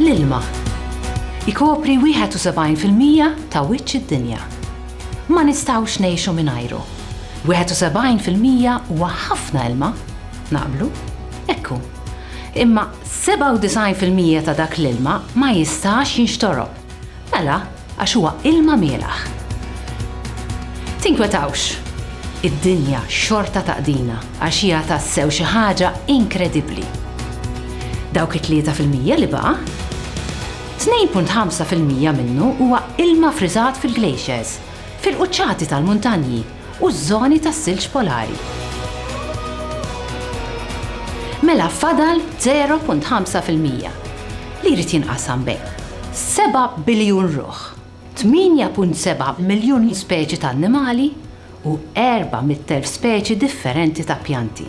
L-ilma jkopri 71 fil-mija ta' wiċċ id-dinja. Ma nistgħux ngħixu mingħajru. 71 fil-mija huwa ħafna ilma, naqblu? Hekk hu. Imma 97 fil-mija ta' dak l-ilma ma jistax jinxtorob. Mela, Għax huwa ilma mielaħ. Tinkwetawx! Id-dinja xorta taqdina għax hija tassew xi ħaġa inkredibbli. Dawk it-tlieta fil-mija li baqa'? Tnejn punt ħamsa fil-mija minnu huwa ilma friżat fil-glaciers, fil-quċċati tal-muntanji. u ż-żoni tas-silġ polari. Mela fadal 0.5 fil-mija li jrid jinqasam bejn seba' biljun ruħ, 8.7 miljun speċi ta' annimali u erba' mitt elf speċi differenti ta' pjanti.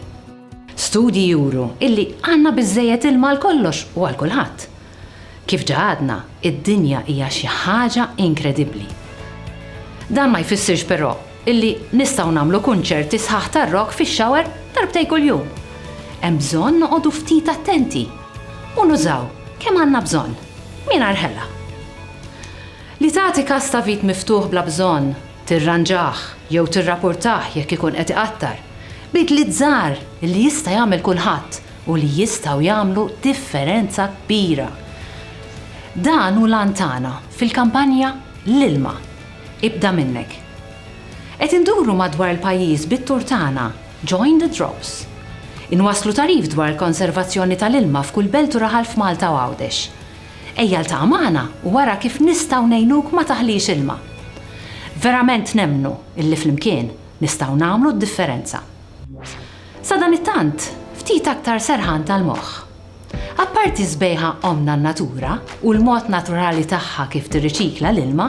Studji juru illi għandna biżżejjed ilma għal kollox u għal kulħadd. Kif ġa għadna, id-dinja hija xi ħaġa inkredibbli. Dan ma jfissirx però illi nistgħu nagħmlu kunċerti sħaħ tar-rock fix-shower darbtejn kuljum. Hemm bżonn noqogħdu ftit attenti u nużaw kemm għandna bżonn, mingħajr ħela. Li tagħti każ ta' vit miftuħ bla bżonn, tirranġah jew tirrapurtah jekk ikun qed iqattar, bidliet żgħar illi jista' jagħmel kulħadd, u li jistgħu jagħmlu differenza kbira. Dan hu l-għan tagħna fil-kampanja L-ilma ibda minnek. Qed induru madwar il-pajjiż bit-tour tagħna Join the Drops. Inwasslu tagħrif dwar il-konservazzjoni tal-ilma f'kull belt u raħal f'Malta u Għawdex. Ejja ltaqa' magħna u ara kif nistgħu ngħinuk ma taħlix ilma. Verament nemmnu illi flimkien nistgħu nagħmlu d-differenza. Sadanittant, ftit aktar serħan tal-moħħ. Apparti s-sbejħa ommna n-natura u l-mod naturali tagħha kif tirriċikla l-ilma,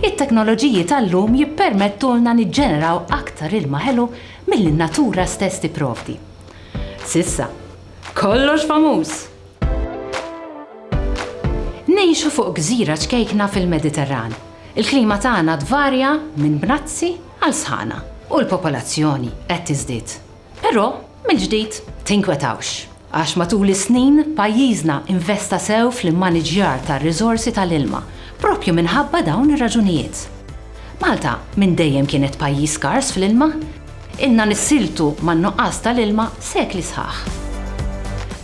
it-teknoloġiji tal-lum jippermettulna niġġeneraw aktar ilma ħelu milli n-natura stess tipprovdi. S'issa, kollox famuż! Ngħixu fuq gżira ċkejkna fil-Mediterran. Il-klima tagħna tvarja minn bnazzi għal sħana u l-popolazzjoni qed tiżdied. Però, mill-ġdid, tinkwetawx, għax matul is-snin pajjiżna investa sew fl-immaniġġjar tar-riżorsi tal-ilma proprju minħabba dawn ir-raġunijiet. Malta minn dejjem kienet pajjiż skars fl-ilma. Ilna nissiltu man-nuqqas tal-ilma sekli sħaħ.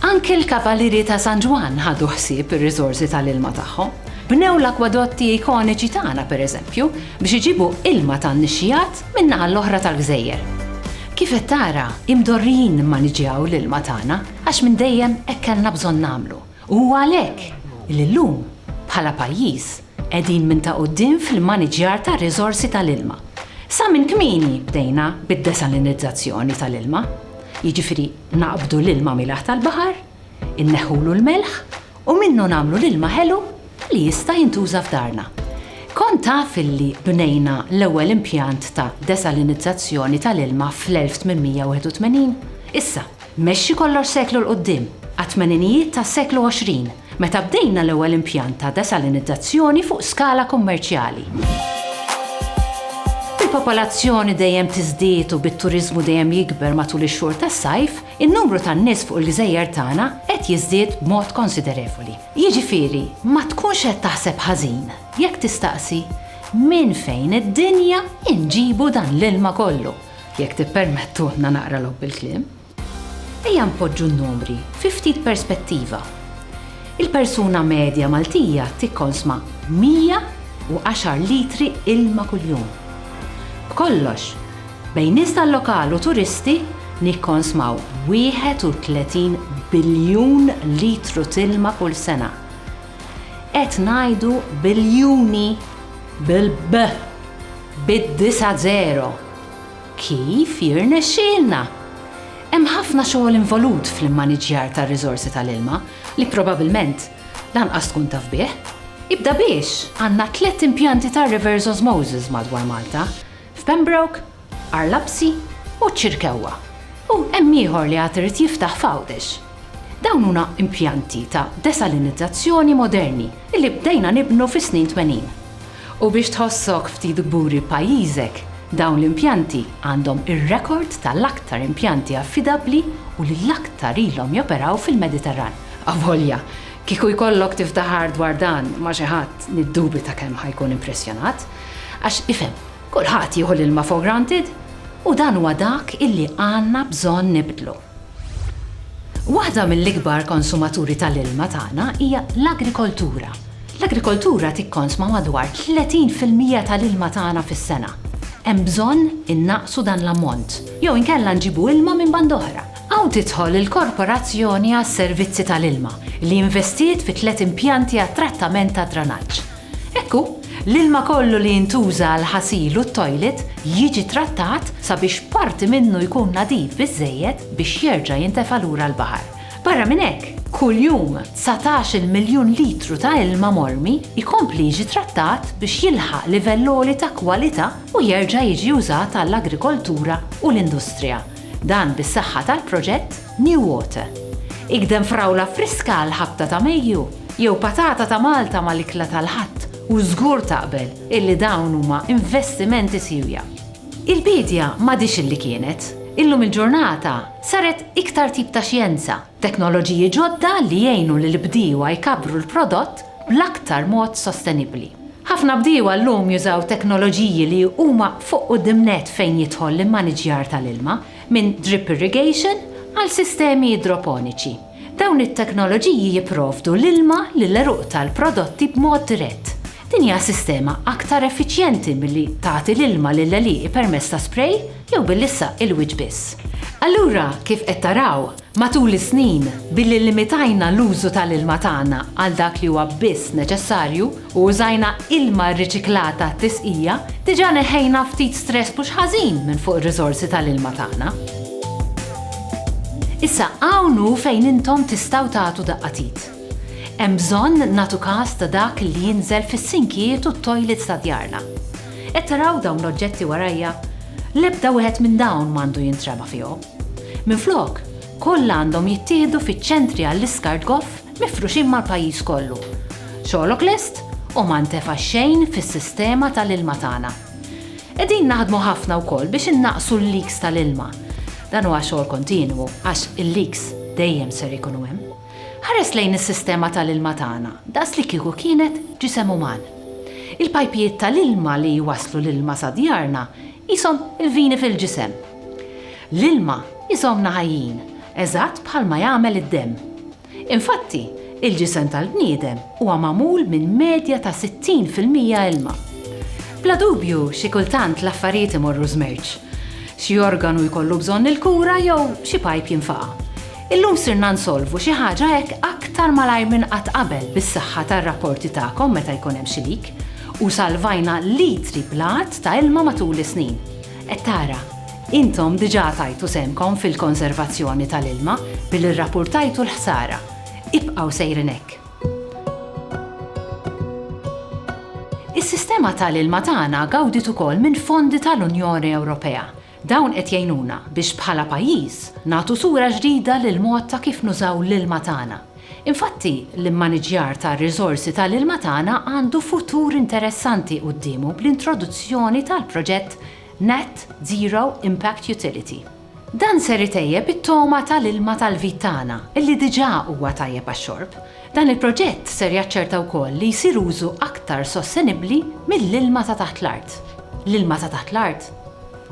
Anke l-Kavalieri ta' San Ġwann ħadu ħsieb ir-riżorsi tal-ilma tagħhom. Bnew l-akwadotti ikoniċi tagħna, pereżempju, biex iġibu ilma tan-nixxigħat min-naħa l-oħra tal-gżejjer. Kif qed tara, imdorrijin nimmaniġġjaw l-ilma tagħna għax minn dejjem hekk kellna bżonn nagħmlu u huwa għalhekk li llum, bħala pajjiż, Qegħdin minn ta' quddiem fl-immaniġġjar tar-riżorsi tal-ilma. Sa minn kmieni bdejna bid-desalinizzazzjoni tal-ilma, jiġifieri naqbdu l-ilma mielaħ tal-baħar, inneħħulu l-melħ u minnu nagħmlu l-ilma ħelu li jista' jintuża f'darna. Kont taf illi bnejna l-ewwel impjant ta' desalinizzazzjoni tal-ilma fl-1881? Issa. Mexxi kollox seklu 'l quddiem, għat-tmeninijiet tas-seklu 20, meta bdejna l-ewwel impjant ta' desalinizzazzjoni fuq skala kummerċjali. Bil-popolazzjoni dejjem tiżdied u bit-turiżmu dejjem jikber matul ix-xhur tas-sajf, in-numru tan-nies fuq il-gżejjer tagħna qed jiżdied b'mod konsiderevoli. Jiġifieri, ma tkunx qed taħseb ħażin jekk tistaqsi, Minn fejn id-dinja inġibu dan l-ilma kollu? Jekk tippermettulna naqra logħob bil-kliem, ejja npoġġu n-numri fi ftit perspettiva. Il-persuna medja Maltija tikkonsma 110 litri ilma kuljum. B'kollox, bejn nies tal-lokal u turisti nikkonsmaw 31 biljun litru t'ilma kull sena. Qed ngħidu biljuni bil-b! Bid-disa' żero! Kif jirnexxielna? Hemm ħafna xogħol involut fl-immaniġġjar tar-riżorsi tal-ilma li probabilment lanqas tkun taf bih. Ibda biex għandna tliet impjanti tar-reverse osmosis madwar Malta, f'Pembroke, Arlabsi u Ċirkewwa u hemm ieħor li għad irid jiftaħ f'Għawdex. Dawn huna impjanti ta' desalinizzazzjoni moderni li bdejna nibnu fis-snin twenin. U biex tħossok ftit kburi b'pajjiżek, dawn l-impjanti għandhom ir-rekord ta' l-aktar impjanti affidabbli u li l-aktar ilhom joperaw fil-Mediterran. Avolja, kieku jkollok tiftaħar dwar dan ma' xi ħadd niddubita kemm ħa jkun impressjonat. Għax ifhem, Kulħadd jieħu l-ilma for granted u dan huwa dak illi għandna bżonn nibdlu. Waħda mill-ikbar konsumaturi tal-ilma tagħna hija l-agrikoltura. L-agrikoltura tikkonsma madwar 30 fil-mija tal-ilma tagħna fis-sena. Hemm bżonn innaqqsu dan l-ammont jew inkella nġibu ilma minn banda oħra. Hawn tidħol il-Korporazzjoni għas-Servizzi tal-Ilma li investiet fi tliet impjanti għat-trattament tad-dranaġġ. Hekk hu, l-ilma kollu li jintuża għall-ħasil u t-tojlit jiġi trattat sabiex parti minnu jkun nadif biżżejjed biex jerġa' jintefa' lura l-baħar. Barra minn hekk, kuljum dsatax-il miljun litru ta' ilma mormi jkompli jiġi trattat biex jilħaq livell għoli ta' kwalità u jerġa' jiġi użat għall-agrikoltura u l-industrija. Dan bis-saħħa tal-proġett New Water. Igdem frawla friska għall-ħabta ta' Mejju jew patata ta' Malta mal-ikla tal-Ħadd u żgur taqbel illi dawn huma investimenti siewja. Il-biedja m'għadhiex illi kienet. Illum il-ġurnata saret iktar tip ta' xjenza. Teknoloġiji ġodda li jgħinu lill-bdiewa jkabbru l-prodott bl-aktar mod sostenibbli. Ħafna bdiewa llum jużaw teknoloġiji li huma fuq quddiem nett fejn jidħol l-immaniġġjar tal-ilma, minn drip irrigation għal sistemi idroponiċi. Dawn it-teknoloġiji jipprovdu l-ilma lill-għeruq tal-prodotti b'mod dirett. Din hija sistema aktar effiċjenti milli tagħti l-ilma lill-għelieqi permezz ta' spray, Jew billi issa il-wiċċ biss. Allura, kif qed taraw, matul is-snin, billi llimitajna l-użu tal-ilma tagħna għal dak li huwa biss neċessarju u użajna ilma rriċiklata għat-tisqija, diġà neħħejna ftit stress mhux ħażin minn fuq ir-riżorsi tal-ilma tagħna. Issa, hawn hu fejn intom tistgħu tagħtu daqqatit. Hemm bżonn nagħtu kas ta' dak li jinżel fis-sinkijiet u t-tojlits ta' djarna. Qed taraw dawn l-oġġetti warajja? L-ebda wieħed minn dawn m'għandu jintrema fihom. Minflok, kollha għandhom jittieħdu fiċ-ċentri għall-iskart goff mifruxin mal-pajjiż kollu. Xogħlok lest u ma ntefa' xejn fis-sistema tal-ilma tagħna. Qegħdin naħdmu ħafna wkoll biex innaqqsu l-leaks tal-ilma. Dan huwa xogħol kontinwu għax il-leaks dejjem ser ikunu hemm. Ħares lejn is-sistema tal-ilma tagħna daqslikieku kienet ġisem uman. Il-pajpijiet tal-ilma li jwasslu l-ilma sa djarna qishom il-vini fil-ġisem. L-ilma jżommna ħajjin, eżatt bħalma jagħmel id-demm. Infatti, il-ġisem tal-bniedem huwa magħmul minn medja ta' 60 fil-mija ilma. Bla dubju, xi kultant l-affarijiet imorru żmerċ. Xi organu jkollu bżonn il-kura jew xi pajp jinfaqa'. Illum sirna nsolvu xi ħaġa hekk aktar malajr minn qatt qabel bis-saħħa tar-rapporti tagħkom meta jkun hemm xi leak, u salvajna litri bl-għadd ta' ilma matul is-snin. Qed tara, intom diġà tajtu sehemkom fil-konservazzjoni tal-ilma billi rrapurtajtu l-ħsara. Ibqgħu sejrin hekk! Is-sistema tal-ilma tagħna gawdiet ukoll minn fondi tal-Unjoni Ewropea Dawn qed jgħinuna biex bħala pajjiż nagħtu sura ġdida lill-mod ta' kif nużaw l-ilma tagħna. Infatti, l-immaniġġjar tar-riżorsi tal-ilma tagħna għandu futur interessanti quddiemu bl-introduzzjoni tal-proġett Net Zero Impact Utility. Dan ser itejjeb it-togħma tal-ilma tal-vit tagħna, li diġà huwa tajjeb għax-xorb, Dan il-proġett ser jaċċerta wkoll li jsir użu aktar sostenibbli mill-ilma ta' taħt l-art. L-ilma ta' taħt l-art?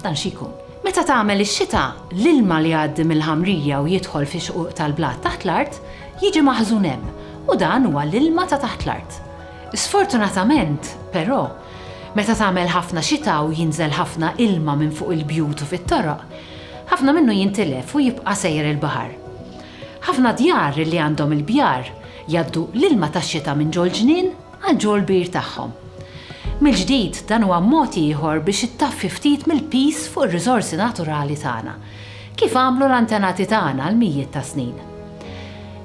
Dan xi jkun? Meta tagħmel ix-xita, l-ilma li jgħaddi mill-ħamrija u jidħol fix-xquq tal-blat taħt l-art jiġi maħżun hemm u dan huwa l-ilma ta' taħt l-art. Sfortunatament, però, meta tagħmel ħafna xita u jinżel ħafna ilma minn fuq il-bjut u fit-toroq, ħafna minnu jintilef u jibqa' sejjer il-baħar. Ħafna djar li għandhom il-bjar jgħaddu l-ilma tax-xita minn ġol-ġnien għal ġol-bir tagħhom. Mill-ġdid, dan huwa mod ieħor biex ittaffi ftit mill-piż fuq ir-riżorsi naturali tagħna, kif għamlu l-antenati tagħna għal mijiet ta' snin.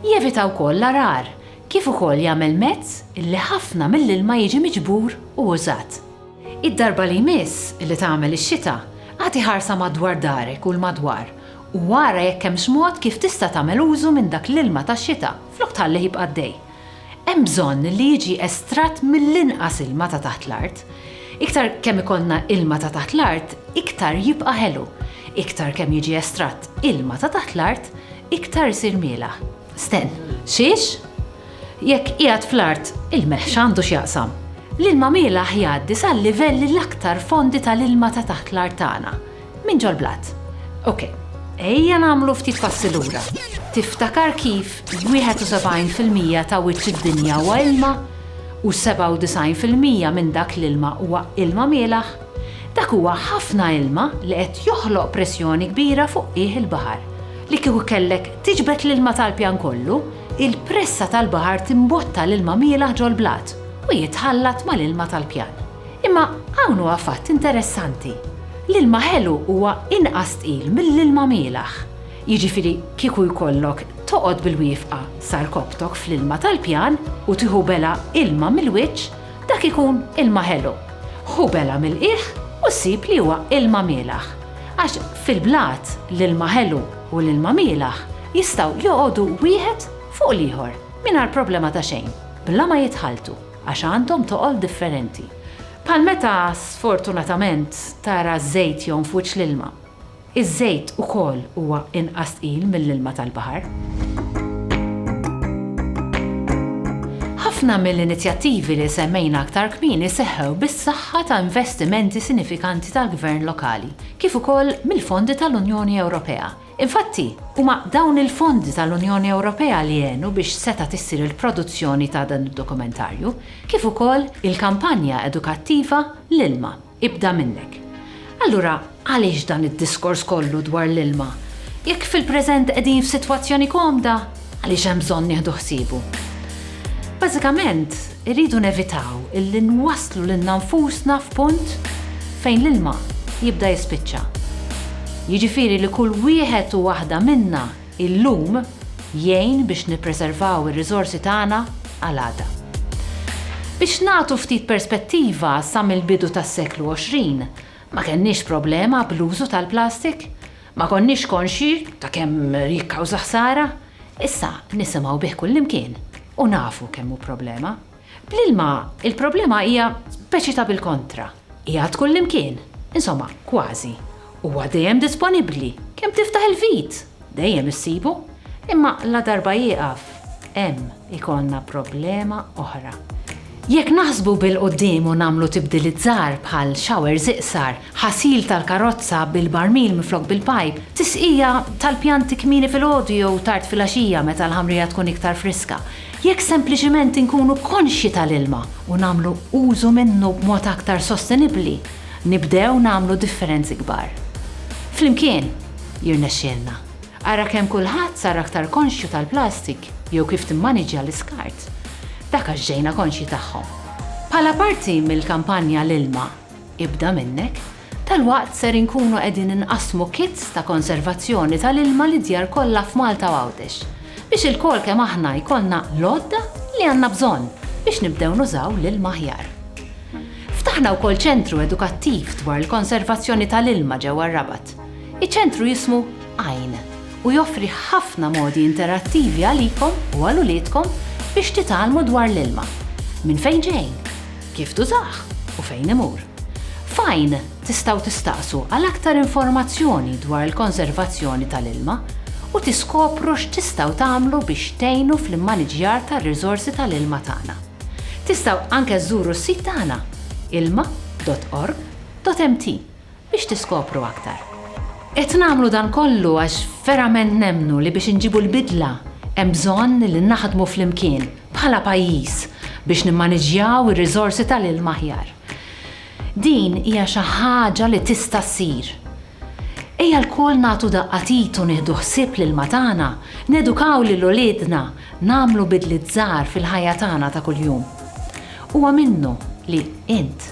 Jevita wkoll l-għargħar, kif ukoll jagħmel mezz li ħafna mill-ilma jiġi miġbur u użat. Id-darba li jmiss li tagħmel ix-xita, agħti ħarsa madwar darek u 'l madwar u ara jekk hemmx mod kif tista' tagħmel użu minn dak l-ilma tax-xita flok tħallih jibqa' għaddej. Hemm bżonn li jiġi estratt mill-inqas ilma ta' taħt l-art. Iktar kemm ikollna ilma ta' taħt l-art, iktar jibqa' ħelu. Iktar kemm jiġi estratt ilma ta' taħt l-art, iktar isir mielaħ. Sten. Xiex? Jekk qiegħed fl-art, il-melħ x'għandu x'jaqsam? L-ilma mielaħ jgħaddi sal-livelli l-aktar fondi tal-ilma ta' taħt l-art tagħna, minn ġol-blat. Ok, ejja nagħmlu ftit passi lura. Tiftakar kif 71 fil-mija ta' wiċċ id-dinja huwa ilma? U 97 fil-mija minn dak l-ilma huwa ilma mielaħ? Dak huwa ħafna ilma li qed joħloq pressjoni kbira fuq qiegħ il-baħar. Li kieku kellek tiġbed l-ilma tal-pjan kollu, Il-pressa tal-baħar timbotta l-ilma mielaħ ġol-blat u jitħallat mal-ilma tal-pjan. Imma hawn huwa fatt interessanti. L-ilma ħelu huwa inqas tqil mill-ilma mielaħ. Jiġifieri kieku jkollok toqgħod bil-wiefqa sa rkobtok fl-ilma tal-pjan u tieħu bela' ilma mill-wiċċ, dak ikun ilma ħelu. Ħu bela' mill-qiegħ u ssib li huwa ilma mielaħ. Għax fil-blat l-ilma ħelu u li l-mamielaħ jistgħu joqogħdu wieħed fuq l-ieħor mingħajr problema ta' xejn, bla ma jitħalltu, għax għandhom toqol differenti. Bħal meta, sfortunatament, tara ż-żejt jgħum f'wiċċ l-ilma. Iż-żejt ukoll huwa inqas tqil mill-ilma tal-baħar. Ħafna mill-inizjattivi li semmejna aktar kmieni seħħew bis-saħħa ta' investimenti sinifikanti tal-gvern lokali, kif ukoll mill-fondi tal-Unjoni Ewropea. Infatti, huma dawn il-fondi tal-Unjoni Ewropea li għenu biex setgħet issir il-produzzjoni ta' dan id-dokumentarju, kif ukoll il-kampanja edukattiva L-ilma, ibda minnek. Allura, għaliex dan id-diskors kollu dwar l-ilma, jekk fil-preżent qegħdin f'sitwazzjoni komda? Għaliex hemm bżonn nieħdu ħsiebu? Bażikament, irridu nevitaw illi nwasslu lilna nfusna f'punt fejn l-ilma jibda jispiċċa. Jiġifieri li kull wieħed u waħda minna illum jgħin biex nippreservaw ir-riżorsi tagħna għal għada. Biex nagħtu ftit perspettiva, sa mill-bidu tas-seklu 20, ma kellniex problema bl-użu tal-plastik. Ma konniex konxji ta' kemm jikkawża ħsara, issa nisimgħu bih kullimkien u nafu kemm hu problema. Bl-ilma, il-problema hija speċi ta' bil-kontra, qiegħed kullimkien, insomma, kważi. Huwa dejjem disponibbli, kemm tiftaħ il-vit, dejjem issibu, imma ladarba jieqaf, hemm ikollna problema oħra. Jekk naħsbu bil-quddiem u nagħmlu tibdiliet żgħar bħal showers iqsar, ħasil tal-karozza bil-barmil minflok bil-pajp, tisqija tal-pjanti kmieni filgħodu jew tard filgħaxija meta l-ħamrija tkun iktar friska, jekk sempliċement inkunu konxji tal-ilma u nagħmlu użu minnu b'mod aktar sostenibbli, nibdew nagħmlu differenzi kbar. Flimkien, jirnexxielna. Ara kemm kulħadd sar aktar konxju tal-plastik jew kif timmaniġġja l-iskart. Dak għax ġejna konxji tagħhom. Bħala parti mill-kampanja L-ilma, ibda minnek, dalwaqt ser inkunu qegħdin inqassmu kits ta' konservazzjoni tal-ilma lid-djar kollha f'Malta u Għawdex biex ilkoll kemm aħna jkollna l-għodda li għandna bżonn biex nibdew nużaw l-ilma aħjar. Ftaħna wkoll ċentru edukattiv dwar il-konservazzjoni tal-ilma ġewwa r-Rabat. Iċ-ċentru jismu Għajn u joffri ħafna modi interattivi għalikom u għal uliedkom biex titgħallmu dwar l-ilma, minn fejn ġej, kif tużah u fejn imur. F'Għajn tistgħu tistaqsu għal aktar informazzjoni dwar il-konservazzjoni tal-ilma u tiskopru x'tistgħu tagħmlu biex tgħinu fl-immaniġġjar tar-riżorsi tal-ilma tagħna. Tistgħu anke żżuru s-sit tagħna, ilma.org.mt. biex tiskopru aktar. Qed nagħmlu dan kollu għax verament nemmnu li biex inġibu l-bidla hemm bżonn li naħdmu flimkien bħala pajjiż biex nimmaniġġjaw ir-riżorsi tal-ilma aħjar. Din hija xi ħaġa li tista' ssir. Ejja lkoll nagħtu daqqa t'id u nieħdu ħsieb l-ilma tagħna, nedukaw lil uliedna, nagħmlu bidliet żgħar fil-ħajja tagħna ta' kuljum. Huwa minnu li int